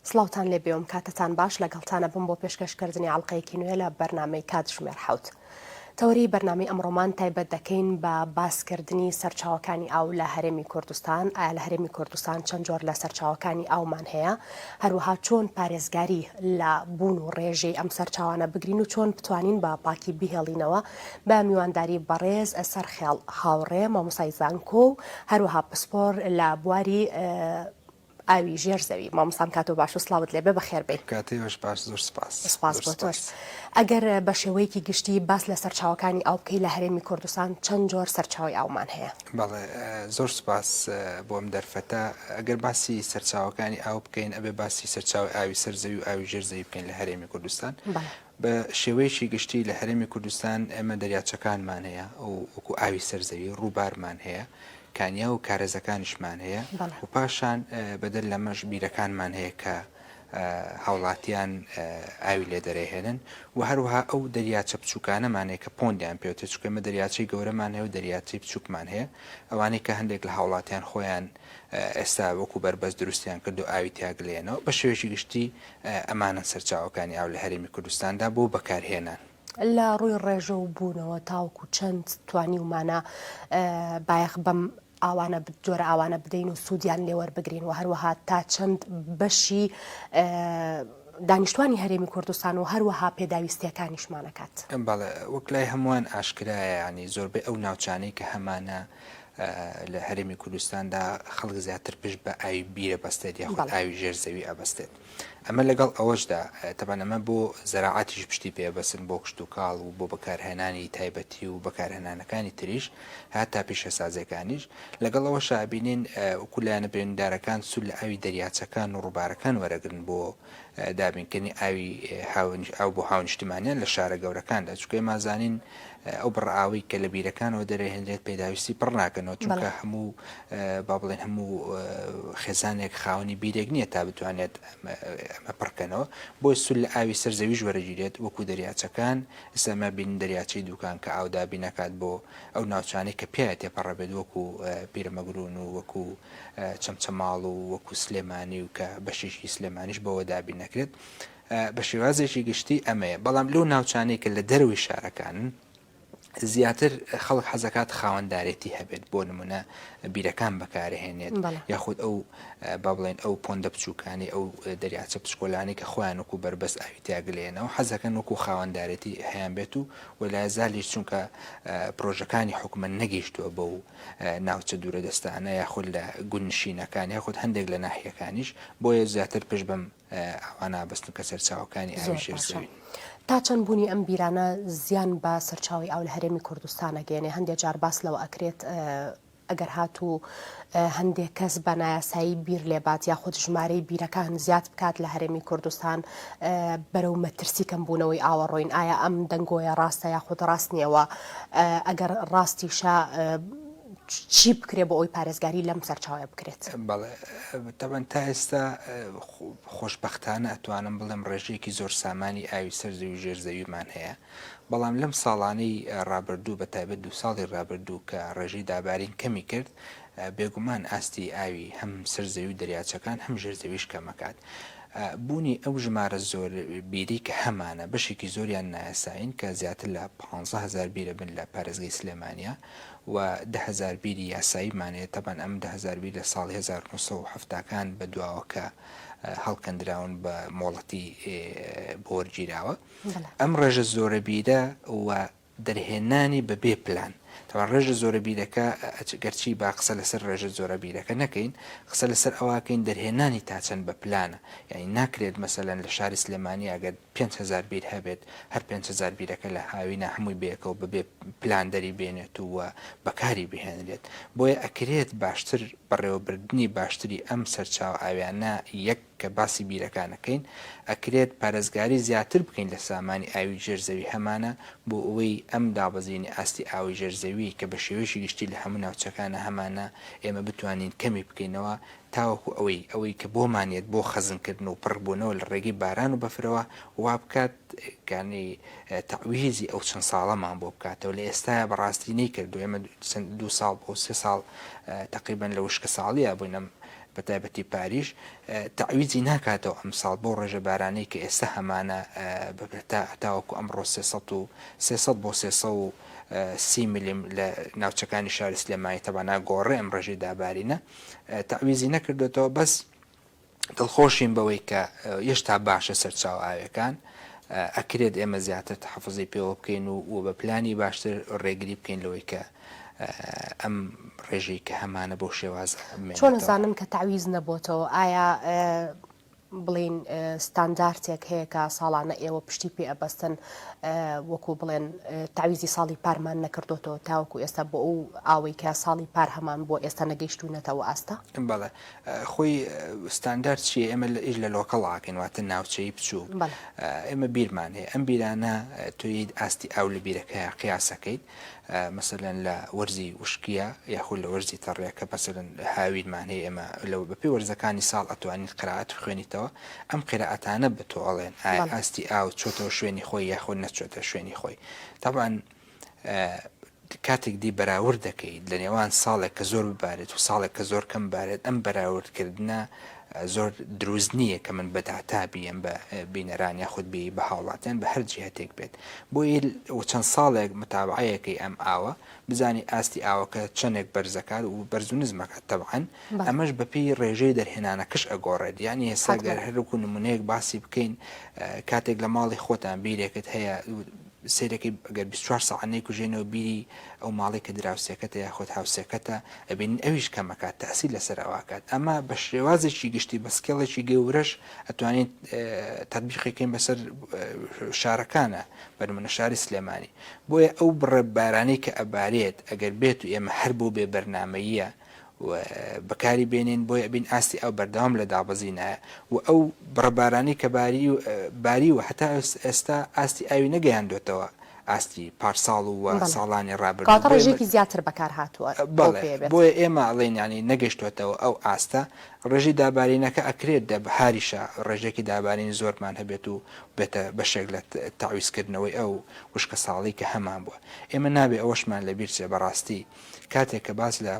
سڵاوتان لێ بێوم کاتتان باش لەگەڵتانە بم بۆ پێشکەشکردنی ئاڵلقەیەکی نوێ لە بەرنمەی کاتژمێر حوت. تەوەری بەرنامی ئەمڕۆمان تایبەت دەکەین بە باسکردنی سەرچاوەکانی ئاو لە هەرێمی کوردستان ئایا لە هەرێمی کوردستان چەند جۆر لە سەرچاوەکانی ئاومان هەیە هەروەها چۆن پارێزگاری لە بوون و ڕێژەی ئەم سەرچاوانە بگرین و چۆن بتوانین بە پاکی بهێڵینەوە بە میوانداری بەڕێز سەرخێڵ هاوڕێ مامۆستای زانکۆ و هەروەها پسپۆر لە بواری ئاوی ژێر زەوی مامۆستام کاتۆ باش و سڵاوت لێبێ بەخێر بێی کاتێ بەش باش زۆر سپاس سپاس بۆ تۆش ئەگەر بە شێوەیەکی گشتی باس لە سەرچاوەکانی ئاو بکەی لە هەرێمی کوردستان چەند جۆر سەرچاوی ئاومان هەیە بەڵێ زۆر سپاس بۆم دەرفەتە ئەگەر باسی سەرچاوەکانی ئاو بکەین ئەبێ باسی سەرچاوی ئاوی سەرزەوی و ئاوی ژێر زەوی بکەین لە هەرێمی کوردستان بە شێوەیەکی گشتی لە هەرێمی کوردستان ئێمە دەریاچەکانمان هەیە و وەکوو ئاوی سەر زەوی ڕووبارمان هەیە، کانیا و کارێزەکانیشمان هەیە بەڵێ. و پاشان بەدەر لەمەش بیرەکانمان هەیە کە هاوڵاتیان ئاوی لێ دەرێهێنن و هەروەها ئەو دەریاچە بچووکانەمان هەیە کە پۆندیان پێوتێ چونکە ئێمە دەریاچەی گەورەمان هەیە و دەریاچەی بچووکمان هەیە ئەوانەی کە هەندێک لە هاوڵاتیان خۆیان ئێستا وەکو بەربەست دروستیان کرد و ئاوی تیا گلەیەنەوە، بە شێوەیەکی گشتی ئەمانەن سەرچاوەکانی ئاو لە هەرێمی کوردستاندا بۆ بەکارهێنان. لە ڕووی ڕێژە و بوونەوە تاوەکو چەند توانیومانە بایەخ بەم ئاوانە جۆرە ئاوانە بدەین و سوودیان لێ وەربگرین و هەروەها تا چەند بەشی دانیشتوانی هەرێمی کوردستان و هەروەها پێداویستییەکانیشمان ئەکات؟ بەڵێ، وەک لای هەمووان ئاشکرایە، یانی زۆربەی ئەو ناوچانەی کە هەمانە، لە هەرێمی کوردستاندا خەڵک زیاتر پشت بە ئاوی بیرە بەستێت یاخود ئاوی ژێر زەوی ئەبەستێت ئەمە لەگەڵ ئەوەشدا تەبان ئەمە بۆ زەراعاتیش پشتی پێبەسن بۆ کشت و کاڵ و بۆ بەکارهێنانی تایبەتی و بەکارهێنانەکانی تریش هاتا پیشەسازەکانیش لەگەڵ ئەوە شابینین وکولایەنە بریندارەکان سول لە ئاوی دەریاچەکان و ڕووبارەکان وەرەگرن بۆ دابینکردنی ئاوی هاوین ئاو بۆ هاونیشتمانیان لە شارە گەورەکاندا چونکە ئێمە ئەزانین ئەو بڕە ئاوەی کە لە بیرەکانەوە دەرێنرێت پێداویستی پڕ ناکەنەوە چونکە بەڵێ هەموو با بڵێن هەموو خێزانێک خاوەنی بیرێک نییە تا بتوانێت ئەمە ئەمە پڕکەنەوە بۆیە سول لە ئاوی سەر زەویش وەرەگیرێت وەکو دەریاچەکان ئێستا ئەمە بینین دەریاچەی دووکان کە ئاو دابین ئەکات بۆ ئەو ناوچانەی کە پیاێ تێپەڕەبێت وەکو پیرەمەگرون و وەکو چەمچەماڵ و وەکو سلێمانی و کە بەشێکی سلێمانیش بەوە دابین نەکرێت بە شێوازێکی گشتی ئەمەیە بەڵام لەو ناوچانەی کە لە دەرەوەی شارەکانن زیاتر خەڵک حەزەکات خاوەندارێتی هەبێت بۆ نمونە بیرەکان بەکارهێنێت یاخود ئەو با بڵێن ئەو پۆندە بچووکانی ئەو دەریاچە پچکۆلانی کە خۆیان وکو بەربەست ئاوی تیاگلێنەوە حەزەکەن وەکو خاوەندارێتی هەیان بێت و وەلای زالیش چونکە پرۆژەکانی حکومە نەگەیشتووە بە و ناوچە دوورە دەستانە یاخود لە گوند نشینەکان یاخود هەندێک لە ناحیەکانیش بۆیە زیاتر پشت بەم ئاوانە بەستن کە سەرچاوەکانی ئاوی ژێر زەوین. تا چەند بوونی ئەم بیرانە زیان بە سەرچاوەی ئاو لە هەرێمی کوردستان ئەگەیەنێ هەندێ جار باس لەوە ئەکرێت ئەگەر هاتوو هەندێک کەس بە نایاسایی بیر لێبات یاخود ژمارەی بیرەکان زیاد بکات لە هەرێمی کوردستان بەرەو مەترسی کەم بوونەوەی ئاوەڕۆین ئایا ئەم دەنگۆیە ڕاستە یاخود ڕاست نییەوە ئەگەر ڕاستیشە چی بکرێت بۆ ئەوی پارێزگاری لەم سەرچاوە بکرێت؟ بەڵێ تەبەن تا ئێستا خۆشببختانە ئەتوانم بڵێم ڕێژەیەکی زۆر سامانی ئاوی سەر زەوی ژێر زەویمان هەیە بەڵام لەم ساڵانەی ڕابردوو بە تایبەت دو ساڵی ڕابردوو کە ڕێژەی دابارین کەمی کرد بێگومان ئاستی ئاوی هەم سەر زەوی دەریاچەکان هەم ژێر زەویش کەمەکات. بوونی ئەو ژمارە زۆر بیرەی کە هەمانە بەشێکی زۆریان نایاسایین کە زیاتر لە پانزە هەزار بیرە بن لە پارێزگەی سلێمانیا و دە هەزار بیری یاساییمان هەیە تەبعەن ئەم دە هەزار بیر لە ساڵی هەزار و نۆ سەد و حەفتا کان بە دواوە کە هەڵکەندراون بە مۆڵەتی بۆ وەرگیراوە ئەم ڕێژە زۆرە بیرە و دەرهێنانی بە بێ پلان تەبعەن ڕێژە زۆرە بیرەکە ئەچ گەرچی با قسە لەسەر ڕێژە زۆرە بیرەکە نەکەین قسە لەسەر ئەوە کەین دەرهێنانی تا چەند بە پلانە یانی ناکرێت مەسەلەن لە شاری سلێمانی ئەگەر پێنج هەزار بیر هەبێت هەر پێنج هەزار بیرەکە لە هاوینا هەمووی بەیەکەوە بە بێ پلان دەری بێنێت و بەکاری بهێنرێت بۆیە ئەکرێت باشتر بەڕێوەبردنی باشتری ئەم سەرچاوە ئاویانە یەک کە باسی بیرەکان ئەکەین ئەکرێت پارێزگاری زیاتر بکەین لە سامانی ئاوی ژێر زەوی هەمانە بۆ ئەوەی ئەم دابەزینی ئاستی ئاوەی ژێر زەوی کە بە شێوەیەکی گشتی لە هەموو ناوچەکانە هەمانە ئێمە بتوانین کەمی بکەینەوە تاوەکو ئەوەی ئەوەی کە بۆمان یەت بۆ خەزن کردن و پڕ بوونەوە لە ڕێگەی باران و بەفرەوە وابکات کانی تەعویزی ئەو چەند ساڵەمان بۆ بکاتەوە لە ئێستایە بە ڕاستی نەیکردووە ئێمە دوو ساڵ بۆ سێ ساڵ تەقریبەن لە وشکە ساڵیە بووین ئەم بە تایبەتی پاریش تەعویزی ناکاتەوە ئەمساڵ بەو ڕێژە بارانەی کە ئێستا هەمانە ببێت تا تاوەکو ئەمڕۆ سێ سەد و سێ سەد بۆ سێ سەد و سی ملم لە ناوچەکانی شاری سلێمانی تەبان ئاگۆڕێ ئەم ڕێژەی دابارینە تەعویزی نەکردۆتەوە بەس دڵخۆشین بەوەی کە یێشتا باشە سەرچاو ئاوێکان ئەکرێت ئێمە زیاتر تەحەفوزی پێوە بکەین و و بە پلانی باشتر ڕێگری بکەین لەوەی کە ئەم ڕێژەی کە هەمانە بەو شێوازە مێنێتەوە. چۆن ئەزانن کە تەعویز نەبۆتەوە؟ ئایا بڵێین ستاندارتێک هەیە کە ساڵانە ئێوە پشتی پێ ئەبەستن وەکو بڵێن تەعویزی ساڵی پارمان نەکردۆتەوە تاوەکو ئێستا بۆ ئەو ئاوەی کە ساڵی پار هەمان بۆ ئێستا نەگەیشتوونەتەوە ئاستا؟ بەڵێ خۆی ستاندارد چیە ئێمە لە ئیش لە لۆکەڵاکەین واتە ناوچەی بچووک ئێمە بیرمان هەیە ئەم بیرانە توید ئاستی ئاو لە بیرەکەیان قیاسەکەیت مەسەلەن لە وەرزی وشکیا یاخود لە وەرزی تەڕێ کە مەسەلەن هاوینمان هەیە ئێمە لە بەپێی وەرزەکانی ساڵ ئەتوانین قرائەت بخوێنیتەوە ئەم قیرائەتانە بە تۆ ئەڵێن ئایا ئاستی ئاو چۆتەوە شوێنی خۆی یاخود نەچۆتە شوێنی خۆی تەبعەن کاتێک دی بەراورد دەکەیت لە نێوان ساڵێک کە زۆر ببارێت و ساڵێک کە زۆر کەم بارێت ئەم بەراوردکردنە زۆر دروست نییە کە من بە داتا بیێم بە بینەران یاخود بیێی بە هاوڵاتیان بە هەر جیهەتێک بێت بۆیی و چەند ساڵێک متابعەیەکەی ئەم ئاوە بزانی ئاستی ئاوەکە چەندێک بەرزەکات و بەرز و نزمەکات تەبعەن ئەمەش بەپی ڕێژەی دەرهێنانەکەش ئەگۆڕێت یانی هێستا گەر هەروکو نمونەیەک باسی بکەین کاتێک لە ماڵی خۆتان بیرێکت هەیە سەیرەکەی گەر بیست چوار سەعات نەیکوژێنەوە بیری ئەو ماڵەی کە دراوسێکەتە یاخود هاوسێکەتە ئەبینین ئەویش کەم ئەکات تاسیر لەسەر ئەو ئەکات ئەمە بە شێوازێکی گشتی بە سکێڵێکی گەورەش ئەتوانین تەتبیقی کەین بەسەر شارەکانە بە نمونە شاری سلێمانی بۆیە ئەو بڕە بارانەی کە ئەبارێت ئەگەر بێت و ئێمە هەر بۆ بێ بەرنامەییە و بەکاری بێنین بۆی ئەبین ئاستی ئاو بەردەوام لە دابەزینایە و ئەو بڕە بارانی کە باری و باریوە هەتا ئێستا ئاستی ئاوی نەگەیاندۆتەوە ئاستی پارساڵ و بەڵێ ساڵانی ڕابردوو کەواتە بۆیە ڕێژەیەکی زیاتر بەکار هاتووە بەو بەڵێ پێیە بێت. بۆیە ئێمە ئەڵێین یانی نەگەشتۆتەوە ئەو ئاستە ڕێژەی دابارینەکە ئەکرێت دە بەهاریشە ڕێژەیەکی دابارین زۆرمان هەبێت و بێتە بەشێک لە تەعویزکردنەوەی ئەو وشکەساڵی کە هەمان بووە ئێمە نابێ ئەوەشمان لەبیرچێ بەڕاستی کاتێک کە باس لە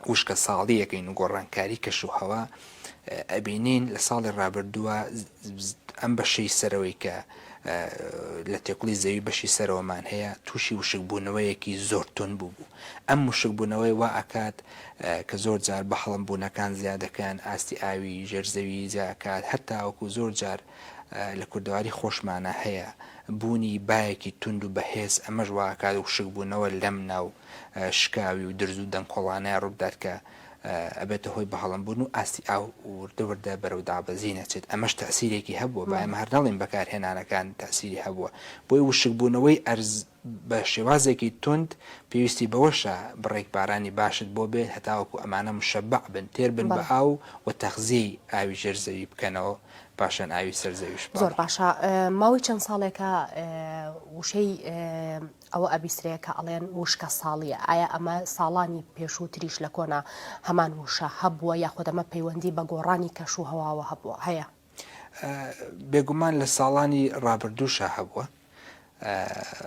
وشکە ساڵی یەکەین و گۆڕانکاری کەش و هەوا ئەبینین لە ساڵی ڕابردووە ئەم بەشەی سەرەوەی کە لە تێکڵی زەوی بەشی سەرەوەمان هەیە تووشی وشکبوونەوەیەکی زۆر تون بوو بوو ئەم وشکبوونەوەی وا ئەکات کە زۆر جار بە هەڵم بوونەکان زیادەکەن ئاستی ئاوی ژێرزەوی زیاکات هەتاوەکو زۆر جار لە کوردەواری خۆشمانا هەیە بوونی بایەکی توند و بەهێز ئەمەش وا ئەکات وشک بوونەوە لەم ناو شکاوی و درز و دەنکۆڵانە ڕووبدات کە ئەبێتە هۆی بەهەڵم بوون و ئاستی ئاو وردە وردە بەرەو دابەزین ئەچێت ئەمەش تەئسیرێکی هەبووە با ئێمە هەر نەڵێین بەکارهێنانەکان تەئسیری هەبووە بۆی وشک بوونەوەی ئەرز بە شێوازێکی توند پێویستی بەوەشە بڕێک بارانی باشت بۆ بێت هەتاوەکو ئەمانە مشبع بن تێر بن بە بەڵێ. ئاو و تەخزیەی ئاوی ژێر زەوی بکەنەوە پاشان ئاوی سەر زەویش زۆر بەڵێ. باشە ماوەی چەند ساڵێکە وشەی ئەوە ئەبیسرێ کە ئەڵێن وشکە ساڵیە ئایا ئەمە ساڵانی پێشوو تریش لە کۆنا هەمان وشە هەبووە یاخود ئەمە پەیوەندی بە گۆڕانی کەش و هەواوە هەبووە هەیە؟ بێگومان لە ساڵانی ڕابردووشا هەبووە،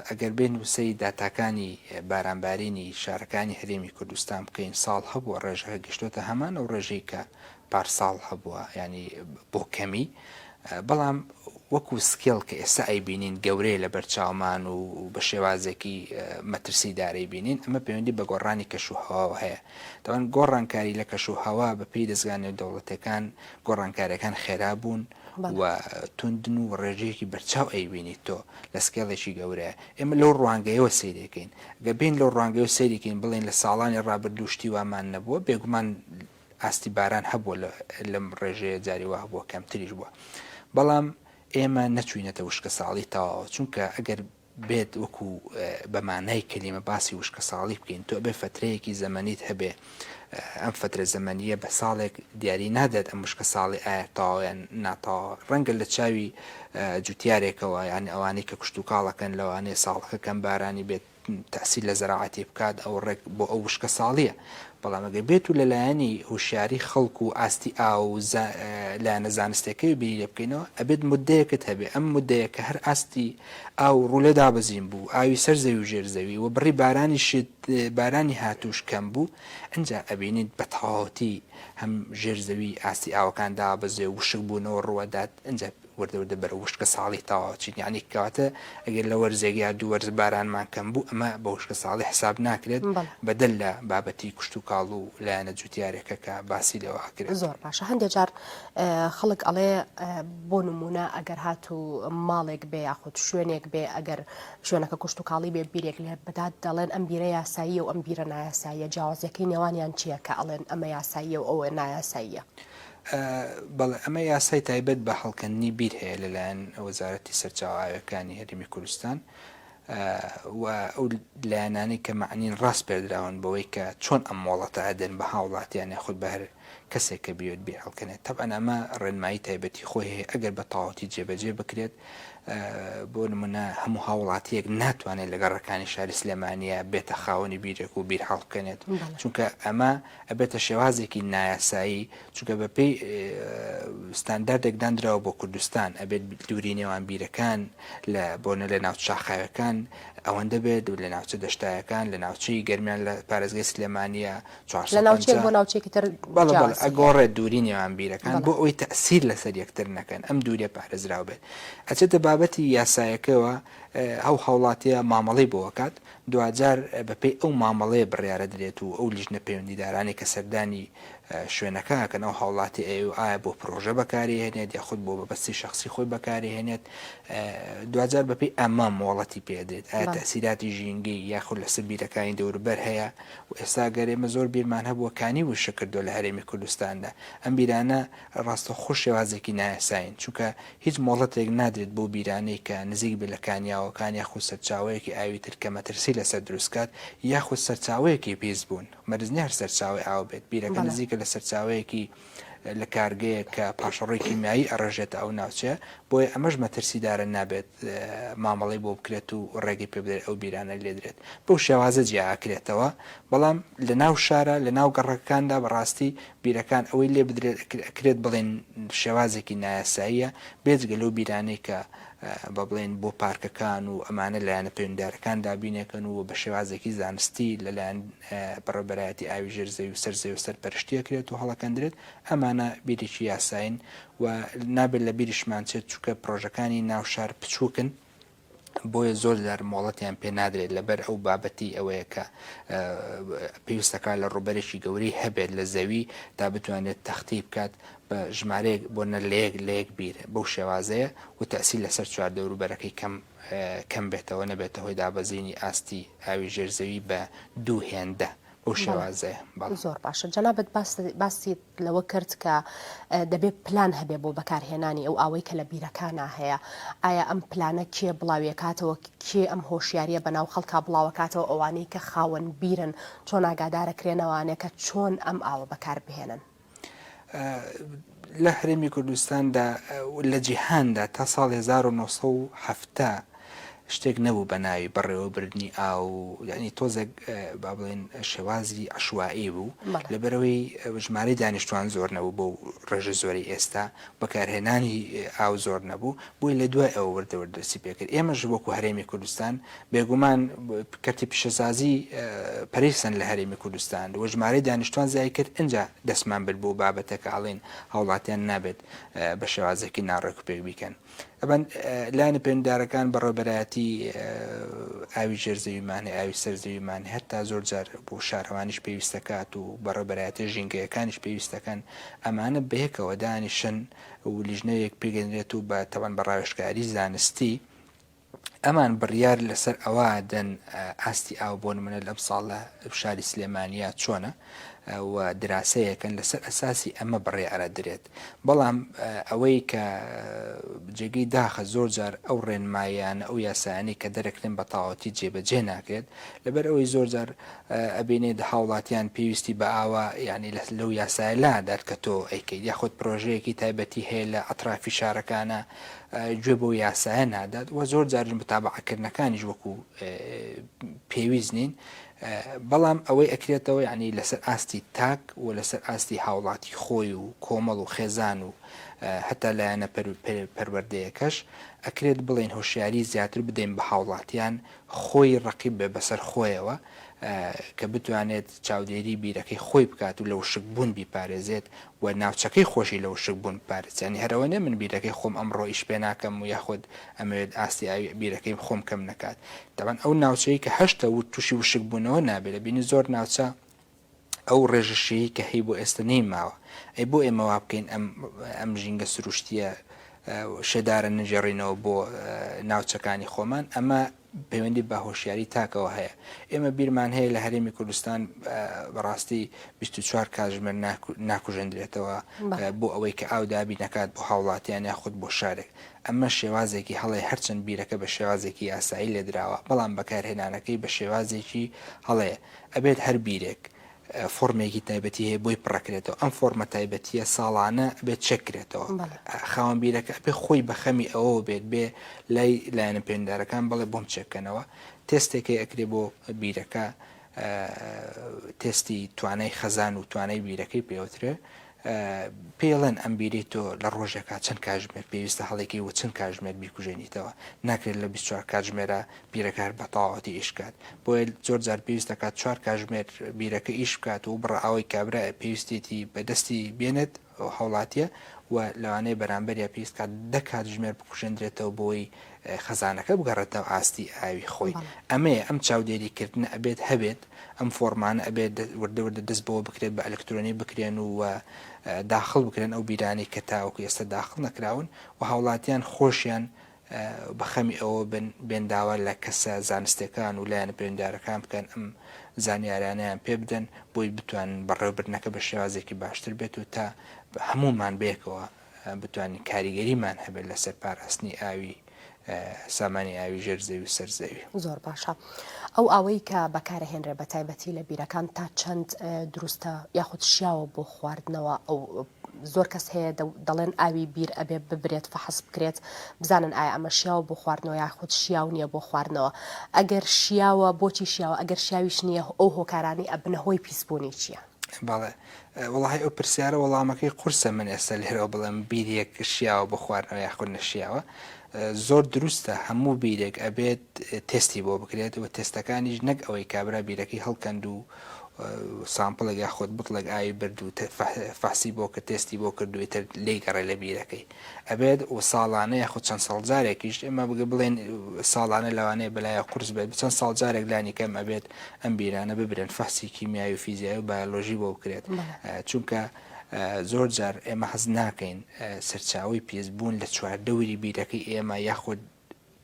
ئەگەر بێن وسەی داتاکانی بارانبارینی شارەکانی هەرێمی کوردستان بکەین ساڵ هەبووە ڕێژەکە گەشتۆتە هەمان و ڕێژەی کە پارساڵ هەبووە ینی بۆ کەمی بەڵام وەکو سکێڵ کە ئێستا ئەیبینین گەورەیە لە بەرچاومان و بە شێوازێکی مەترسی دارەی بینین ئەمە پەیوەندی بە گۆڕانی کەش و هەواوە هەیە دەوان گۆڕانکاری لە کەش و هەوا بەپی دەستگانێ دەوڵەتەکان و گۆڕانکاریەکان خێرا بوون و توندن و ڕێژەیەکی بەرچاو ئەیبینیت تۆ لە سکێڵێکی گەورەیە ئێمە لەو ڕوانگەیەوە سیرەکەین گە بین لەو ڕوانگە و سەیرکەین بڵێن لە ساڵانی ڕابردوشتی وامان نەبووە بێگومان ئاستی باران هەبووە لەم ڕێژەیە جاری وا هەبووە کەمتریش بووە بەڵام ئێمە نەچوینەتە وشکە ساڵی تەواوە چونکە ئەگەر بێت وەکو بە مانای کەلیمە باسی وشکەساڵی بکەین تۆ ئەبێ فەترەیەکی زەمەنیت هەبێ ئەم فەترە زەمەنیە بە ساڵێک دیاری نادات ئەم وشکە ساڵی ئایا تەواوە یان ناتەواوە ڕەنگە لە چاوی جوتیارێکەوە یانی ئەوانەی کە کشتوکاڵەکەن لەوانەیە ساڵەکە کەم بارانی بێت تەسیل لە زەراعەتی بکات ئەو ڕێک بۆ ئەو وشکە ساڵیە بەڵام ئەگەر بێت و لەلایەنی هوشیاری خەڵک و ئاستی ئا و لایەنە زانستەکەی بینی لێ بکەینەوە ئەبێت مدەیەکت هەبێ ئەم مدەیە کە هەر ئاستی ئاو ڕولێ دابەزین بوو، ئاوی سەر زەوی و ژێر زەوی و بڕی بارانی شت بارانی هاتووش کەم بوو، ئنجا ئەبینیت بە تەواوەتی هەم ژێر زەوی ئاستی ئاوەکان دابەزێ و وشک بوونەوە ڕووەدات، ئنجا وردە وردە بەرەو وشکە ساڵی تەواو ئەچین، یەعنی کەواتە ئەگەر لە وەرزێک یا دوو وەرز بارانمان کەم بوو ئەمە بە وشکە ساڵی حساب ناکرێت، بەدەر لە بابەتی کشتوکاڵ و لایەنە جوتیارێکە کە باسی لێوە ئەکرێت. زۆر باشە هەندێ جار خەڵک ئەڵێ بۆ نموونە ئەگەر هات و ماڵێک بێ یاخود شوێنێک بێ ئەگەر شوێنەکە کوشت و کاڵی بێ بیرێک لێ بدات دەڵێن ئەم بیرە یاسایی و ئەم بیرە نایاساییە جیاوازەکەی نێوانیان چییە کە ئەڵێن ئەمە یاساییە و ئەوە نایاساییە؟ بەڵێ ئەمە یاسای تایبەت بە هەڵکەندنی بیر هەیە لەلایەن وەزارەتی سەرچاوە ئاوییەکانی هەرێمی کوردستان و ئەو لایەنانەی کە مەعنین ڕاسپێردراون بەوەی کە چۆن ئەم مۆڵەتە ئەدەن بە هاوڵاتیان یاخود بە هەر کەسێک کە بیەوێت بیهەڵکەنێت تەبعەن ئەمە ڕێنمایی تایبەتی خۆی هەیە ئەگەر بە تەواوەتی جێبەجێ بکرێت بۆ نمونە هەموو هاوڵاتیەک ناتوانێت لە گەڕەکانی شاری سلێمانە بێتە خاوەنی بیرێک و بیر هەڵبکەنێت چونکە ئەمە ئەبێتە شێوازێکی نایاسایی چونکە بە پێی ستانداردێک دانراوە بۆ کوردستان ئەبێت دووری نێوان بیرەکان لە بۆنە لە ناو شاخاوەکان ئەوەندە بێت و لە ناوچە دەشتایەکان لە ناوچەی گەرمیان لە پارێزگای سلێمانە لە ناوچەیەک بۆ ناوچەیەکی تر جیاواز دەکرێت. بەڵێ، ئەگۆڕێت دووری نێوان بیرەکان بۆ ئەوەی تەئسیر لەسەر یەکتر نەکەن، ئەم دوورییە پارێزراو بێت. ئەچێتە بابەتی یاسایەکەوە، ئەو هاوڵاتییە مامەڵەی بۆ ئەکات، دواجار بەپێی ئەو مامەڵەیە بڕیارە درێت و ئەو لیژنە پەیوەندیدارانەی کە سەردانی شوێنەکە ئەکەن، ئەو هاوڵاتییە ئەیەوێت ئایا بۆ پرۆژە بەکاریهێنێت یاخود بۆ مەبەستی شەخسی خۆی بەکاریهێنێت، دواجار بەپێی ئەمە مۆڵەتی پێ ئەدرێت، ئایا تەئسیراتی ژینگەیی یاخود لەسەر بیرەکانی دەوروبەر هەیە، و ئێستا ئەگەر ئێمە زۆر بیرمان هەبووە کانی وشک کردووە لە هەرێمی کوردستاندا، ئەم بیرانە ڕاستەوخۆ شێوازێکی نایاسایین، چونکە هیچ مۆڵەتێک نادرێت بەو بیرانەی کە نزیک بێت لە کانیاوەکان یاخود سەرچاوەیەکی ئاوی تر کە مەترسی لەسەر دروست بکات یاخود سەرچاوەیەکی پیس بوون، مەرج نییە هەر سەرچاوەی ئاو بێت، بیرەکە نزیکە لە سەرچاوەیەکی. لە کارگەیەک کە پاشەڕۆی کیمیایی ئەڕێژێتە ئەو ناوچەیە، بۆیە ئەمەش مەترسیدارە نابێت مامەڵەی بۆ بکرێت و ڕێگەی پێبدرێت ئەو بیرانە لێدرێت بەو شێوازە جیاکرێتەوە، بەڵام لە ناو شارە لە ناو گەڕەکەکاندا بەڕاستی بیرەکان ئەوەی لێبدرێت ئەکرێت بڵێن شێوازێکی نایاساییە بێجگە لەو بیرانەی کە با بڵێن بۆ پارکەکان و ئەمانە لایەنە پەیوەندیدارەکان دابینەکەن و بە شێوازێکی زانستی لەلایەن بەڕێوەبەرایەتی ئاوی ژێر زەوی و سەر زەوی و سەر پەرشتی ئەکرێت و هەڵئەکەندرێت، ئەمانە بیرێکی یاسایین و نابێت لە بیریشمان چێت، چونکە پڕۆژەکانی ناو شار بچووکن، بۆیە زۆر جار مۆڵەتیان پێ نادرێت لەبەر ئەو بابەتی ئەوەیە کە پێویست دەکات لە ڕووبەرێکی گەورەی هەبێت لە زەوی تا بتوانێت تەختی بکات بە ژمارەیەک بۆ نە لە یەک لە یەک بیر بەو شێوازەیە و تەسیل لەسەر چواردەوروبەرەکەی کەم کەم بێتەوە نەبێتە هۆی دابەزینی ئاستی ئاوی ژێر زەوی بە دوو هێندە بەو شێوازەیە بەڵێ. زۆر باشە جەنابت باس باست لەوە کرد کە دەبێت پلان هەبێ بۆ بەکارهێنانی ئەو ئاوەی کە لە بیرەکانا هەیە ئایا ئەم پلانە کێ بڵاویەکاتەوە کێ ئەم هۆشیاریە بەناو خەڵکا بڵاوەکاتەوە ئەوانەی کە خاوەن بیرن چۆن ئاگادارەکرێنەوانێ کە چۆن ئەم ئاوە بەکاربهێنن؟ لە هەرێمی کوردستاندا و لە جیهاندا تا ساڵی هەزار و نۆ سەد و حەفتا شتێک نەبوو بە ناوی بەڕێوەبردنی ئاو یعنی تۆزێک با بڵێن شێوازی عشوایی بوو بەڵێ. لەبەرەوەی ژمارەی دانیشتوان زۆر نەبوو بۆ ڕێژە زۆری ئێستا بەکارهێنانی ئاو زۆر نەبوو بۆی لە دوای ئەوە وردە وردە دەستی پێکرد ئێمەش وەکو هەرێمی کوردستان بێگومان کەرتی پیشەسازی پەرەی خستن لە هەرێمی کوردستان و ژمارەی دانیشتوان زیای کرد، ئینجا دەستمان برد بۆ بابەتەکە ئەڵێن هاوڵاتیان نابێت بە شێوازێکی ناڕێک و پێک بیکەن. ئەبەن لایەنە پەیوەندیدارەکان بەڕێوبەرایەتی ئاوی ژێر زەویمان هەیە، ئاوی سەر زەویمان هەیە، هەتا زۆر جار بۆ شارەوانیش پێویست دەکات و بەڕێوبەرایەتیە ژینگەیەکانیش پێویست دەکەن، ئەمانە بەیەکەوە دانیشن و لیژنەیەک پێکدەنرێت و بە تەبەن بە ڕاوێژکاری زانستی، ئەمان بڕیار لەسەر ئەوە دەن ئاستی ئاو بۆ نمونە لەم ساڵ لە شاری سلێمانیا چۆنە و دراسەیەکەن لەسەر ئەساسی ئەمە بڕێ ئەرە درێت بەڵام ئەوەی کە جێگەی داخە زۆر جار ئەو ڕێنمایانە ئەو یاسایانی کە دەرەکرێن بە تاواتی جێبەجێ ناکرێت لەبەر ئەوەی زۆر جار ئەبینێت هاوڵاتیان پێویستی بە ئاوا یعنی لە لەو یاسایە لادات کە تۆ ئەیکەیت یاخود پرۆژەیەکی تایبەتی هەیە لە ئەطرافی شارەکانە گوێ بەو یاسایە نادات و زۆر جاریش متابەعەکردنەکانیش وەکو پێویست نین، بەڵام ئەوەی ئەکرێتەوە یەعنی لەسەر ئاستی تاک و لەسەر ئاستی هاوڵاتی خۆی و کۆمەڵ و خێزان و هەتا لایەنە پەروەردەیەکەش ئەکرێت بڵێین هۆشیاری زیاتر بدەین بە هاوڵاتیان خۆی ڕەقیب بێ بەسەر خۆیەوە کە بتوانێت چاودێری بیرەکەی خۆی بکات و لە وشکبوون بیپارێزێت و ناوچەکەی خۆشی لە وشکبوون بپارێزت یانی هەر ئەوە نیە من بیرەکەی خۆم ئەمڕۆ ئیش پێ ناکەم و یاخود ئەمەوێت ئاستی ئاوی بیرەکەی خۆم کەم نەکات تەبەن ئەو ناوچەی کە هەشتە ووت توشی وشکبوونەوە نابێت لە بینی زۆر ناوچە ئەو ڕێژە شیی کە هەی بۆ ئێستە نەیماوە ئەی بۆ ئێمە وا بکەین ئەم ئەم ژینگە سروشتیە شێدارە نەگێڕینەوە بۆ ناوچەکانی خۆمان ئەمە پەیوەندی بە هۆشیاری تاکەوە هەیە. ئێمە بیرمان هەیە لە هەرێمی کوردستان بەڕاستی بیست و چوار کات ژمێر ناکوژێندرێتەوە بۆ ئەوەی کە ئاو دابین نەکات بۆ هاوڵاتیان یاخود بۆ شارێک. ئەمە شێوازێکی هەڵەیە هەرچەند بیرەکە بە شێوازێکی یاسایی لێدراوە بەڵام بەکارهێنانەکەی بە شێوازێکی هەڵەیە. ئەبێت هەر بیرێک فۆرمێکی تایبەتی هەیە بۆی پڕەکرێتەوە ئەم فۆرمە تایبەتیە ساڵانە ئەبێت چێک کرێتەوە خاوەن بیرەکە ئەبێ خۆی بە خەمی ئەوەوە بێت بێ لای لایەنە پەیوەندارەکان بڵێ بۆم چێک کەنەوە تێستێک هەیە ئەکرێ بۆ بیرەکە تێستی توانای خەزان و توانای بیرەکەی پێوترێ پێڵێن ئەم بیرەی تۆ لە ڕۆژێکا چەند کاتژمێر پێویستە هەڵیکەی و چەند کاتژمێر بیکوژێنیتەوە، ناکرێت لە بیست چوار کاتژمێرا بیرەکە هەر بە تەواوەتی ئیش بکات، بۆیە زۆر جار پێویست دەکات چوار کاتژمێر بیرەکە ئیش بکات و بڕە ئاوەی کابرا پێویستێتی بە دەستی بێنێت ئەو هاوڵاتییە و لەوانەیە بەرامبەریا پێویست بکات دە کاتژمێر بکوژێندرێتەوە بۆی خەزانەکە بگەڕێتەوە ئاستی ئاوی خۆی، ئەمەیە ئەم چاودێریکردنە ئەبێت هەبێت. ئەم فۆڕمانە ئەبێت وردە وردە دەست بەوە بکرێت بە ئەلکترۆنی بکرێن و داخڵ بکرێن ئەو بیرانەی کە تاوەکو ئێستا داخڵ نەکراون و هاوڵاتیان خۆشیان بە خەمی ئەوە بن بێن داوا لە کەسە زانستەکان و لایەنە پەیوەندارەکان بکەن ئەم زانیارانیان پێ بدەن بۆی بتوانن بەڕێوەبردنەکە بە شێوازێکی باشتر بێت و تا هەمومان بەیەکەوە بتوانین کاریگەریمان هەبێت لەسەر پاراستنی ئاوی سامانی ئاوی ژێر زەوی و سەر زەوی. زۆر باشە ئەو ئاوەی کە بەکارەهێنرێ بە تایبەتی لە بیرەکان تا چەند دروستە یاخود شیاوە بۆ خواردنەوە ئەو زۆر کەس هەیە دەڵێن ئاوی بیر ئەبێ ببرێت فەحس بکرێت بزانن ئایا ئەمە شیاوە بۆ خواردنەوە یاخود شیاو نییە بۆ خواردنەوە ئەگەر شیاوە بۆچی شیاوە ئەگەر شیاویش نییە ئەو هۆکارانی ئەبنە هۆی پیسبوونی چییە؟ بەڵێ وەڵاهی ئەو پرسیارە وەڵامەکەی قورسە من ئێستا لێرەوە بڵێم بیرێک شیاوە بۆ خواردنەوە یاخود نەشیاوە زۆر دروستە هەموو بیرێک ئەبێت تستی بۆ بکرێت و تستەکانیش نەک ئەوەی کابرا بیرەکەی هەڵکەند و سامپڵێک یاخود بتڵێک ئاوی برد و فەحسی بۆ کە تستی بۆ کردوی تر لی گەڕێ لە بیرەکەی ئەبێت و ساڵانە یاخود چەند ساڵ جارێکیش ئێمە بڵێن ساڵانە لەوانەیە بەلایە قورس بێت بچەند ساڵ جارێک لانی کەم ئەبێت ئەم بیرانە ببرێن فەحسی کیمیاوی و فیزیای و بایۆلۆژی بۆ بکرێت چونکە زۆر جار ئێمە حەز ناکەین سەرچاوی پیس بوون لە چواردەوری بیرەکەی ئێمە یاخود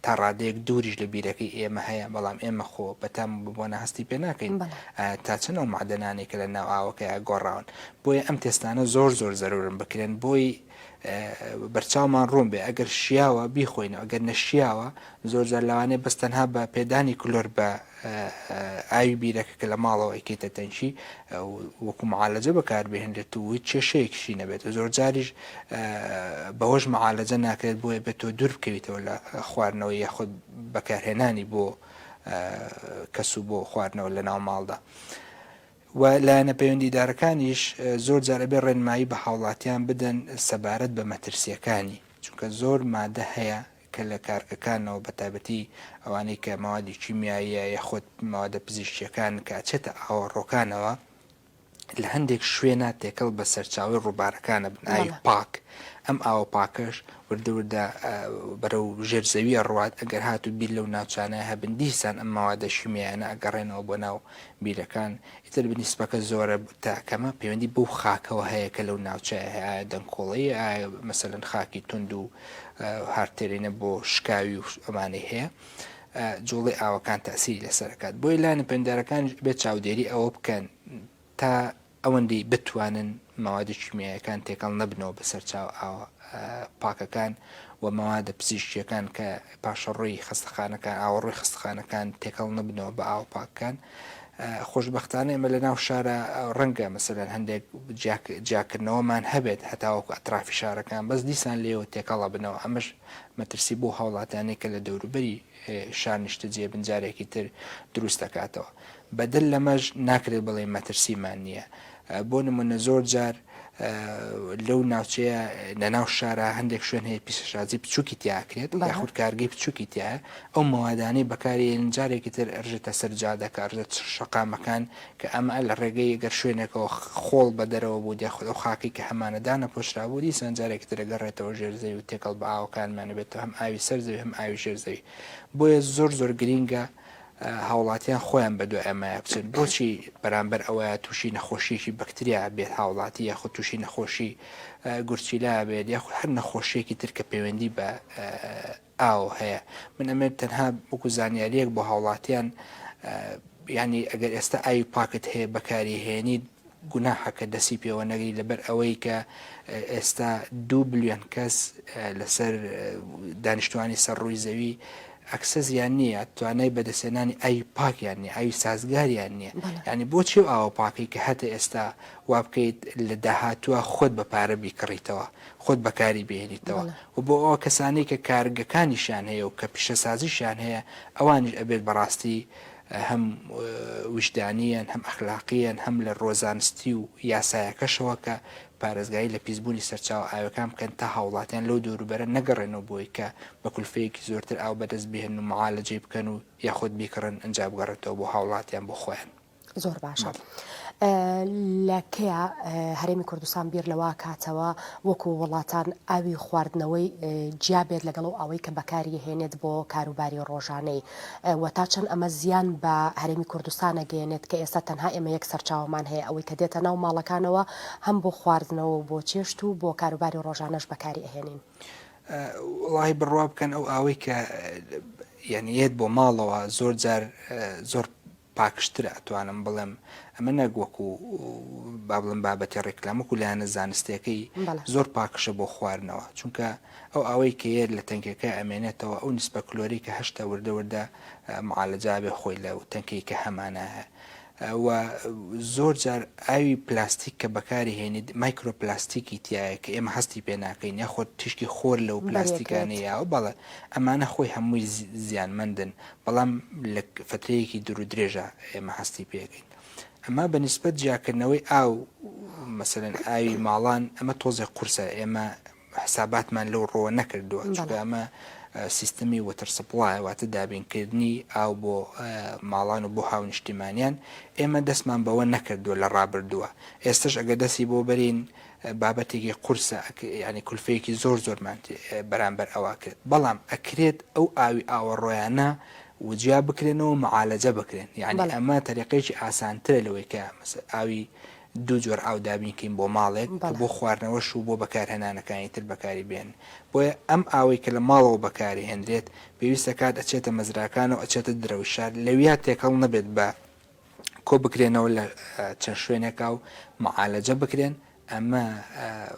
تا ڕادەیەک دووریش لە بیرەکەی ئێمە هەیە، بەڵام ئێمە خۆ بە تام و بە بۆنە هەستی پێ ناکەین ئایا تا چەند ئەو مەعدەنانەی کە لە ناو ئاوەکەیا گۆڕاون. بۆیە ئەم تێستانە زۆر زۆر زەروورن بکرێن بۆی بەرچاومان ڕوون بێ ئەگەر شیاوە بیخۆینەوە ئەگەر نەشیاوە زۆر جار لەوانەیە بەس تەنها بە پێدانی کلۆر بە ئاوی بیرەکە کە لە ماڵەوە ئەیکەیتە تەنکی وەکو معالەجە بەکاربهێنرێت و هیچ کێشەیەکشی نەبێت زۆرجاریش بەوەش معالەجە ناکرێت بۆیە بێت تۆ دوور بکەویتەوە لە خواردنەوە یاخود بەکارهێنانی بۆ کەس و بۆ خواردنەوە لە ناو ماڵدا. و لایەنە پەیوەندیدارەکانیش زۆر جارەبێ ڕێنمایی بە هاوڵاتیان بدەن سەبارەت بە مەترسیەکانی چونکە زۆر مادە هەیە کە لە کارگەکانەوە بە تایبەتی ئەوانەی کە مەوادی کیمیاییە یاخود مەوادە پزیشکییەکان کە ئەچێتە ئاوەڕۆکانەوە لە هەندێک شوێنا تێکەڵ بە سەرچاوەی ڕووبارەکان ئەبن ئاوی پاک ئەم ئاوە پاکەش وردە وردە بەرەو ژێر زەویە ڕوات ئەگەر هاتوو بیر لەو ناوچانە هەبن دیسان ئەم مەوادە شیمیایانە ئەگەڕێنەوە بۆ ناو بیرەکان ئیتر بنی سپەکە زۆرە تا کەمە پەیوەندی بەو خاکەوە هەیە کە لەو ناوچەیە هەیە، ئایا دەنکۆڵەیە، ئایا مەسەلەن خاکی توند و هارد تێرینە بۆ شکاوی و ئەمانەی هەیە، جوڵەی ئاوەکان تاسیری لەسەر ئەکات، بۆیە لایەنە پەیوەندارەکانیش ئەبێت چاودێری ئەوە بکەن تا ئەوەندەی بتوانن مەوادە کیمیاییەکان تێکەڵ نەبنەوە بە سەرچاوە ئاوە پاکەکان و مەوادە پزیشکییەکان کە پاشەڕۆی خەستەخانەکان ئاوەڕۆی خەستەخانەکان تێکەڵ نەبنەوە بە ئاوە پاکەکان. خۆشبەختانە ئێمە لە ناو شارا ڕەنگە مەسەلەن هەندێک جیاکردنەوەمان هەبێت هەتاوەکو ئەترافی شارەکان بەس دیسان لێوە تێکەڵە بنەوە ئەمەش مەترسی بۆ هاوڵاتیانێک کە لە دەوروبەری شار نیشتەجێ بن جارێکی تر دروست دەکاتەوە بەدەر لەمەش ناکرێت بڵێ مەترسیمان نییە بۆ نموونە زۆر جار لەو ناوچەیە لە ناو شارە هەندێک شوێن هەیە پیسەشازی بچووکی تیاکرێت یاخود کارگەی بچووکی تایە ئەو مەوادانەی بەکارێن جارێکی تر ڕژێتە سەر جادەکە ڕژێت شەقامەکان کە ئەمە لە ڕێگەی گەر شوێنێکەوە خۆڵ بە دەرەوە بوو دیاخود ئەو خاکی کە هەمانەدانە پۆشرابوو دیسان جارێکی تر گەڕێتەوە ژێر زەوی و تێکەڵ بە ئاوەکانمانە بێتەوە هەم ئاوی سەر زەوی هەم ئاوی ژێر زەوی بۆیە زۆر زۆر گرینگە هاوڵاتیان خۆیان بەدوای ئەمەیا بچن بۆچی بەرامبەر ئەوەیا توشی نەخۆشیەکی بەکتریا بێت هاوڵاتی یاخود توشی نەخۆشی گورچیلا بێت یاخود هەر نەخۆشیەکی تر کە پەیوەندی بە ئاو هەیە من ئەمێت تەنها بکو زانیاریەک بۆ هاوڵاتیان ینی ئەگەر ئێستا ئاوی پاکت هەیە بەکاری هێنیت گوناحە کە دەستی پێوە نەگری لەبەر ئەوەی کە ئێستا دوو بلیۆن کەس لەسەر دانیشتوانی سەر ڕووی زەوی ئەکسەزیان نییە توانای بەدەستێنانی ئاوی پاکیان نیە ئاوی سازگاریان نییە ینی بۆ چێ و ئاوە پاکەی کە هەتە ئێستا وابکەیت لە داهاتوە خۆت بە پارە بیکڕیتەوە خۆت بەکاری بێنیتەوە و بۆ ئەوە کەسانەی کە کارگەکانیشان هەیە و کە پیشەسازیشان هەیە ئەوانیش ئەبێت بەڕاستی هەم ویژدانییەن، هەم ئەخلاقییەن، هەم لە رووە زانستی و یاسایەکەشەوە کە پارێزگاری لە پیسبوونی سەرچاوە ئاویەکان بکەن تا هاوڵاتیان لەو دەوروبەرە نەگەڕێنەوە بۆی کە بە کولفەیەکی زۆرتر ئاو بەدەست بهێنن و معالەجەی بکەن و یاخود بیکڕن ئنجا بگەڕێتەوە بۆ هاوڵاتیان بۆ خۆیان. زۆر باشە. لە کەیە هەرێمی کوردستان بیر لەوە کاتەوە وەکو وڵاتان ئاوی خواردنەوەی جیا بێت لەگەڵ ئەو ئاوەی کە بەکاری هێنێت بۆ کاروباری ڕۆژانەی و تا چەند ئەمە زیان بە هەرێمی کوردستانە گەێنێت کە ئێستا تەنها ئێمە یەک سەرچاومان هەیە ئەوەی کە دێتە ناو ماڵەکانەوە هەم بۆ خواردنەوە بۆ چێشت و بۆ کاروباری ڕۆژانەش بەکاری ئەهێنین. وڵی بڕوا بکەن ئەو ئاوەی کە یعنی یەت بۆ ماڵەوە زۆر جار زۆر پاکشترە ئەتوانم بڵێم ئەمە نەک وەکو با بڵێم بابەتی ڕیکلام وەکو لایەنە زانستیەکەی زۆر پاکشە بۆ خواردنەوە چونکە ئەو ئاوەی کە یەت لە تەنکەکە ئەمێنێتەوە ئەو نسبە کلۆری کە هەشتە وردە وردە معالەجا بێ خۆی لە تەنکەی کە هەمانە و زۆر جار ئاوی پلاستیک کە بەکاری هێنیت مایکرۆ پلاستیکی تایە کە ئێمە هەستی پێ ناکەین یاخۆ تیشکی خۆر لەو پلاستیکانەیە و بەڵێ ئەمانە خۆی هەمووی زیانمەندن بەڵام لە فەترەیەکی دوور و درێژا ئێمە هەستی پێکەین ئەمە بە نیسبەت جیاکردنەوەی ئاو مەسەلەن ئاوی ماڵان ئەمە تۆزێک قورسە ئێمە حساباتمان لەو ڕۆوە نەکردووە چونکە ئەمە سیستمی وەتر سپڵایە واتە دابینکردنی ئاو بۆ ماڵان و بۆ هاونیشتیمانیان ئێمە دەستمان بەوە نەکردووە لە ڕابردووە ئێستش ئەگە دەستی بۆ بەرین بابەتێکی قورسە ئەک یانی کولفەیەکی زۆر زۆرمان تێ بەرامبەر ئەوا کرد بەڵام ئەکرێت ئەو ئاوی ئاوەڕۆیانە وجیا بکرێنەوە معالەجە بکرێن یانی بەڵێ ئەمە تەریقەیەکی ئاسانترە لەوەی کە مەس ئاوی دوو جۆر ئاو دابین کەین بۆ ماڵێک کە بەڵێ. بۆ خواردنەوەش و بۆ بەکارهێنانەکانی تر بەکاری بێن بۆیە ئەم ئاوەی کە لە ماڵەوە بەکاری هێنرێت پێویستە کات ئەچێتە مەزراکانەوە ئەچێتە درەوی شار لەویا تێکەڵ نەبێت بە کۆبکرێنەوە لە چەند شوێنێکا و معالەجە بکرێن، ئەمە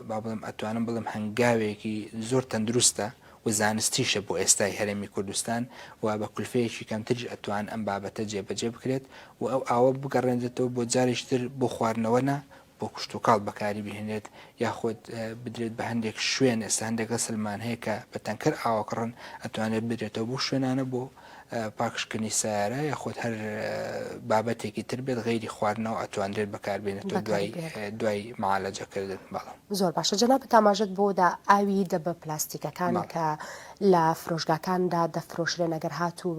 با بڵێم ئەتوانم بڵێم هەنگاوێکی زۆر تەندروستە و زانستیشە بۆ ئێستای هەرێمی کوردستان و بە کولفەیەکی کەمتریش ئەتوان ئەم بابەتە جێبەجێ بکرێت و ئەو ئاوە بگەڕێنرێتەوە بۆ جاریش تر بۆ خواردنەوە نە بۆ کشتوکاڵ بەکاری بهێنرێت یاخود بدرێت بە هەندێک شوێن ئێستا هەندێک غەسلمان هەیە کە بە تەنکەر ئاوەکڕن ئەتوانێت بدرێتەوە بۆ شوێنانە بۆ پاکشکردنی سیارە یاخود هەر بابەتێکی تر بێت غەیری خواردنەوە ئەتواندرێت بەکاربێنێتەوە دوای دوای معالەجەکردن بەڵام زۆر باشە جەنابت ئاماژەت بۆ دا ئاوی دەبە پلاستیکەکان کە لە فرۆشگاکاندا دەفرۆشرێن ئەگەر هاتوو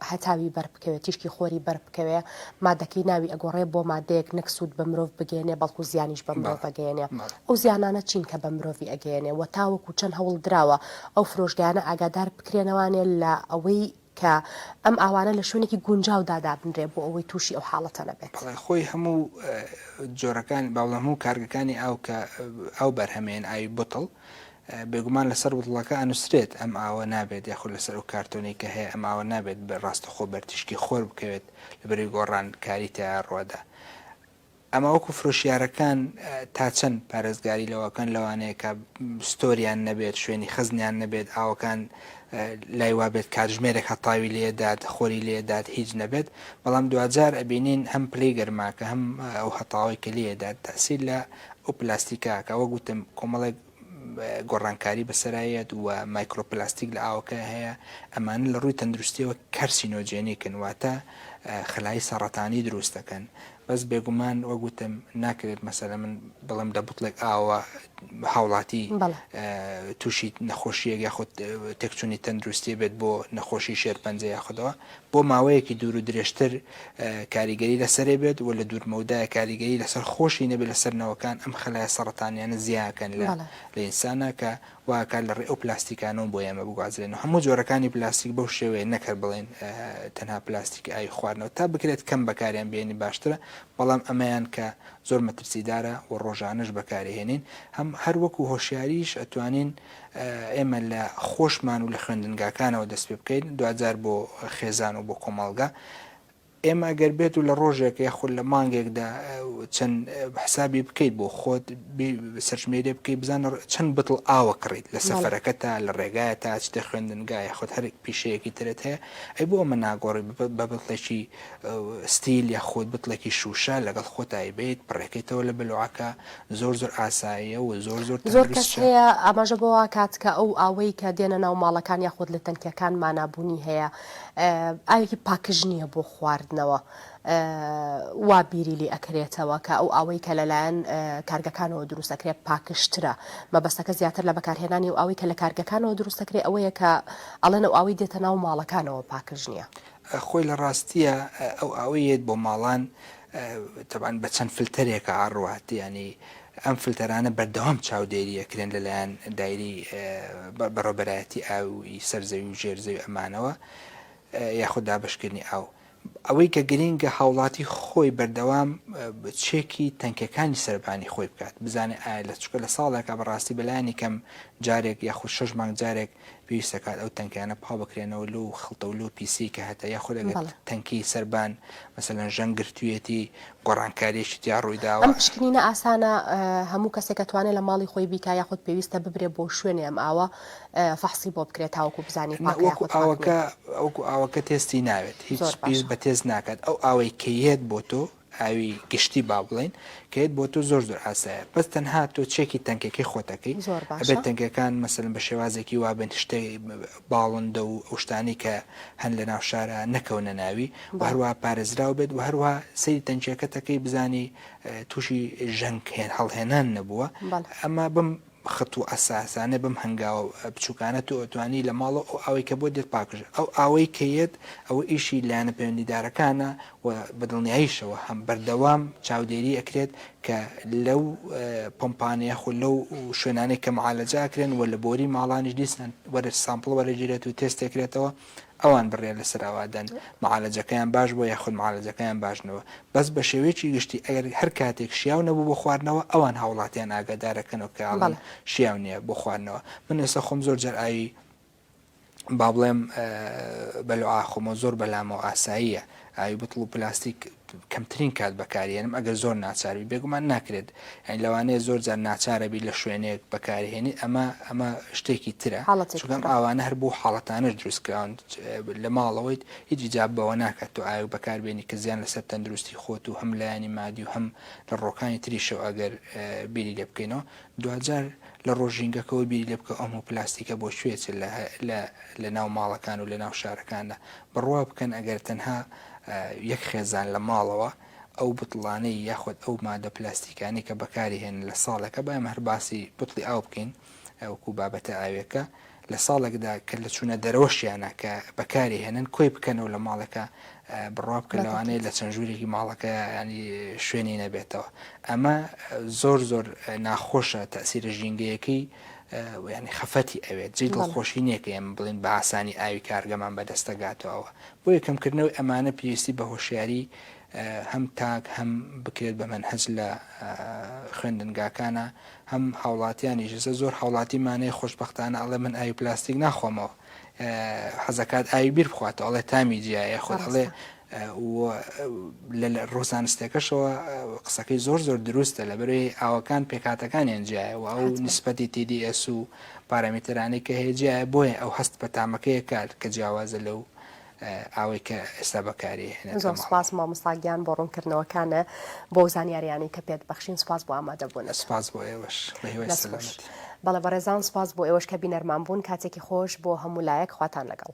هەتاوی بەر بکەوێت تیشکی خۆری بەر بکەوێ مادەکەی ناوی ئەگۆڕێ بۆ مادەیەک نەک سوود بە مرۆڤ بگەێنێ بەڵکو زیانیش بە مرۆڤ بەگەێنێ ئەو زیانانە چین کە بە مرۆڤی ئەگەێنێ و تاوەکو چەند هەوڵ دراوە ئەو فرۆشگانە ئاگادار بکرێنەوانێ لە ئەوەی کە ئەم ئاوانە لە شوێنێکی گونجاودا دابنرێ بۆ ئەوەی تووشی ئەو حاڵەتە نەبێت. بەڵێ خۆی هەموو جۆرەکانی با بڵێم هەموو کارگەکانی ئاو کە ئاو بەرهەمێن ئاوی بوتڵ بێگومان لەسەر بوتڵەکە ئەنووسرێت ئەم ئاوە نابێت یاخود لەسەر ئەو کارتۆنەی کە هەیە ئەم ئاوە نابێت بە ڕاستەخۆ بەرتیشکی خۆر بکەوێت لەبەرەی گۆڕان کاری تیا ڕووەدا ئەمە وەکو فرۆشیارەکان تا چەند پارێزگاری لەوەکەن لەوانەیە کە ستۆریان نەبێت شوێنی خزنیان نەبێت ئاوەکان لای وابێت کاتژمێرێک هەتاوی لێدات خۆری لێدات هیچ نەبێت بەڵام دوجار ئەبینین هەم پلی گەرماکە هەم ئەو هەتاوی کە لێدات تاسیل لە ئەو پلاستیکاکە وەگوتم کۆمەڵێک گۆڕانکاری بەسەرایەت و مایکرۆپلاستیک لە ئاوەکەیا هەیە، ئەمانە لە ڕووی تەندروستییەوە کارسینۆجێنیکن، واتە خەلایی سەڕەتانی دروست دەکەن، بەس بێگومان وەک وتم ناکرێت مەسەلەن من بڵێم لە بوتڵێک ئاوەوە هاوڵاتی تووشی نەخۆشییەک یاخود تێکچوونی تەندروستییە بێت بۆ نەخۆشی شێرپەنجە یاخودەوە بۆ ماوەیەکی دوور و درێژتر کاریگەری لەسەرێ بێت و لە دوورمەودای کاریگەری لەسەر خۆشی نەبێت لەسەر نەوەکان ئەم خەلایە سەڕەتانیانە زیا ئەکەن لە لە ئینسانا کە وا ئەکات لە ڕێ ئەو پلاستیکانەوە بۆ ئێمە بگوازرێن و هەموو جۆرەکانی پلاستیک بەو شێوەیە نەک هەر بڵێین تەنها پلاستیک ئاوی خواردنەوە تا بکرێت کەم بەکاریان بێنی باشترە بەڵام ئەمەیان کە زۆر مەترسیدارە و ڕۆژانەش بەکارهێنین هەم هەر وەکو هۆشیاریش ئەتوانین ئێمە لە خۆشمان و لە خوێندنگاکانەوە دەست پێ بکەین دواجار بۆ خێزان و بۆ کۆمەڵگە ئێمە گەر بێت و لە ڕۆژێک یاخود لە مانگێکدا چەند حسابی بکەیت بۆ خۆت سەرژمێرێ بکەیت بزانە چەند بتڵ ئاوە کڕیت لە سەفەرەکە تا لە ڕێگایە تا چتە خوێندنگای خۆت هەر پیشەیەکی ترت هەیە ئەی بۆ ئەمە ناگۆڕی بە بتڵێکی ستیل یا خۆت بتڵێکی شوشە لەگەڵ خۆتایی بیت پڕێکەیتەوە لە بلوعەکە زۆر زۆر ئاساییە و زۆر زۆر زۆر کەس تەندروستشە. هەیە ئاماژە بەوە ئەکات کە ئەو ئاوەی کە دێنە ناو ماڵەکان یاخود لە تەنکیەکان مانا بوونی هەیە ئاوێکی پاکژ نییە بۆ خواردنەوە وا بیری لێ ئەکرێتەوە کە ئەو ئاوەی کە لەلایەن کارگەکانەوە دروست ئەکرێت پاکژترە مەبەستەکە زیاتر لە بەکارهێنانی و ئاوەی کە لە کارگەکانەوە دروست ئەکرێت ئەوەیە کە ئەڵێن ئەو ئاوەی دێتە ناو ماڵەکانەوە پاکژ نییە. خۆی لە ڕاستییە ئەو ئاوەی یەت بۆ ماڵان تەبعەن بە چەند فلتەرێکە ئاڕوات یانی ئەم فلتەرانە بەردەوام چاودێری ئەکرێن لە لایەن دایرەی بەڕێوەبەرایەتی ئاووی سەر زەوی و ژێر زەوی ئەمانەوە یاخود دابەشکردنی ئاو ئەوەی کە گرینگە هاوڵاتی خۆی بەردەوام چێکی تەنکەکانی سەربانی خۆی بکات بزانێ ئایا لە چکە لە ساڵێکە بەڕاستی بەلایانی کەم جارێک یاخود شەش مانگ جارێک پێویست دەکات ئەو تەنکانە پاک بکرێنەوە لەو خڵتە و لەو پیسیەی کە هەتە یاخود ئەگەر بەڵێ تەنکی سەربان مەسەلەن ژەنگ گرتوویەتی گۆڕانکارییەکی تیا ڕووی ئەم داوە. پشکنینە ئاسانە ئە هەموو کەسێک ئەتوانێ لە ماڵی خۆی بیکا یاخود پێویستە ببرێ بۆ شوێنێ ئەم ئاوە ئە فەحسی بۆ بکرێ تاوەکو بزانین نە پاکە وەکو یاخود پاک ئاوەکە نیە؟ وەکو ئاوەکە تێستی ناوێت زۆر هیچ پیس باشە. بە تێست ناکات ئەو ئاوەی کە یەت بۆ تۆ ئاوی گشتی با بڵێین کەێت بۆ تۆ زۆر زۆر ئاسایە بەس تەنها تۆ چێکی تەنکەکەی خۆتەکەی ئەبێت تەنکەکان مەسەن بە شێوازێکی وابن شتێ باڵندە و ئەوشتانی کە هەن لە ناو شارە نەکەونە ناوی هەروە پارێزراو بێت و هەروە سری تەنکیەکەتەکەی بزانی تووشی ژەنگ هێن هەڵهێنان نەبووە ئەمە بم خەت و عەساسانە بەم هەنگاوە بچوکانە تۆ ئەتوانی لە ماڵەوە ئەو ئاوەی کە بۆت دێت پاکژە ئەو ئاوەی کە یەت ئەوە ئیشی لایەنە پەیوەندیدارەکانە و بە دڵنیایشەوە هەم بەردەوام چاودێری ئەکرێت کە لەو پۆمپانە یاخۆ لەو شوێنانەی کە معالەجە ئەکرێن و لە بۆری ماڵانیش دیسان وەرە سامپڵ وەرەگیرێت و تێست ئەکرێتەوە ئەوان بڕیار لەسەر ئەوە دەن معالەجەکەیان باش بووە یاخود معالەجەکەیان باش نەبووە بەس بە شێوەیەکی گشتی ئەگەر هەر کاتێک شیاو نەبوو بۆ خواردنەوە ئەوان هاوڵاتیان ئاگادارەکەنەوە کە ئەڵێن شیاو نییە بۆ خواردنەوە من ئێستا خۆم زۆر جار ئاوی با بڵێم بە لوعا خۆمەوە زۆر بەلامەوە ئاساییە ئاوی بتڵ و پلاستیک کەمترین کات بەکاریهێنم ئەگەر زۆر ناچار بی بێگومان ناکرێت یانی لەوانەیە زۆر جار ناچارەبی لە شوێنێک بەکاریهێنیت ئەمە ئەمە شتێکی ترە چونکە ئەم ئاوانە هەر بۆ حاڵەتانەش دروست کراون لە ماڵەوەیت هیچ جا بەوە ناکات تۆ ئاوێک بەکاربێنی کە زیان لەسەر تەندروستی خۆت و هەم لایەنی مادی و هەم لە ڕۆکانی تریشەوە ئەگەر بیری لێ بکەینەوە دواجار لە ڕۆژ ژینگەکەوە بیری لێ بکە ئەم پلاستیکە بۆ کوێ چل لە لە لە ناو ماڵەکان و لە ناو شارەکاندا بڕوا بکەن ئەگەر تەنها یەک خێزان لە ماڵەوە ئەو بتڵانەی یاخود ئەو مادە پلاستیکانەی کە بەکاری هێنن لە ساڵێکە با ئێمە هەر باسی بتڵی ئاو بکەین وەکو بابەتە ئاوێکە لە ساڵێکدا کە لە چوونە دەرەوەشیانە کە بەکاری هێنن کۆی بکەنەوە لە ماڵەکە بڕوا بکە لەوانەیە لە چەند ژوورێکی ماڵەکە ینی شوێنی نەبێتەوە ئەمە زۆر زۆر ناخۆشە تەسیرە ژینگەیەکەی ینی خەفەتی ئەوێت جێ دڵخۆشی نیەکە ئێمە بڵین بە ئاسانی ئاوی کارگەمان بەدەستەگاتەوە بۆیە کەمکردنەوەی ئەمانە پێویستی بە هۆشیاری هەم تاک هەم بکرێت بە مەنهەج لە خوێندنگاکانا هەم هاوڵاتیانیش ئێستا زۆر هاوڵاتی مانەیە خۆشبەختانە ئەڵێ من ئاوی پلاستیک ناخۆمەوە حەزەکات ئاوی بیر بخواتەوە ئەڵێ تامی جیایە خۆ ئەڵێ لە ڕۆزانستەکەشەوە قسەکەی زۆر زۆر دروستە لە بەرەی ئاوەکان پێکاتەکانیان جیایە و ئەو نسبەتی TDS و پارامترانی کە هەیە جیایە بۆیە ئەو هەست بە تامەکەیە کار کە جیاوازە لەو ئاوەی کە ئێستا بەکاری ئەهێنێت زۆر سوپاس مامۆستا گیان بۆ ڕوونکردنەوەکانە بۆ ئەو زانیاریانەی کە پێت بەخشین سوپاس بۆ ئامادەبوونت سوپاس بۆ ئێوەش بە هیوای دەست خۆش سەلامەتی بەڵێ بەڕێزان سوپاس بۆ ئێوەش کە بینەرمان بوون کاتێکی خۆش بۆ هەموو لایەک خواتان لەگەڵ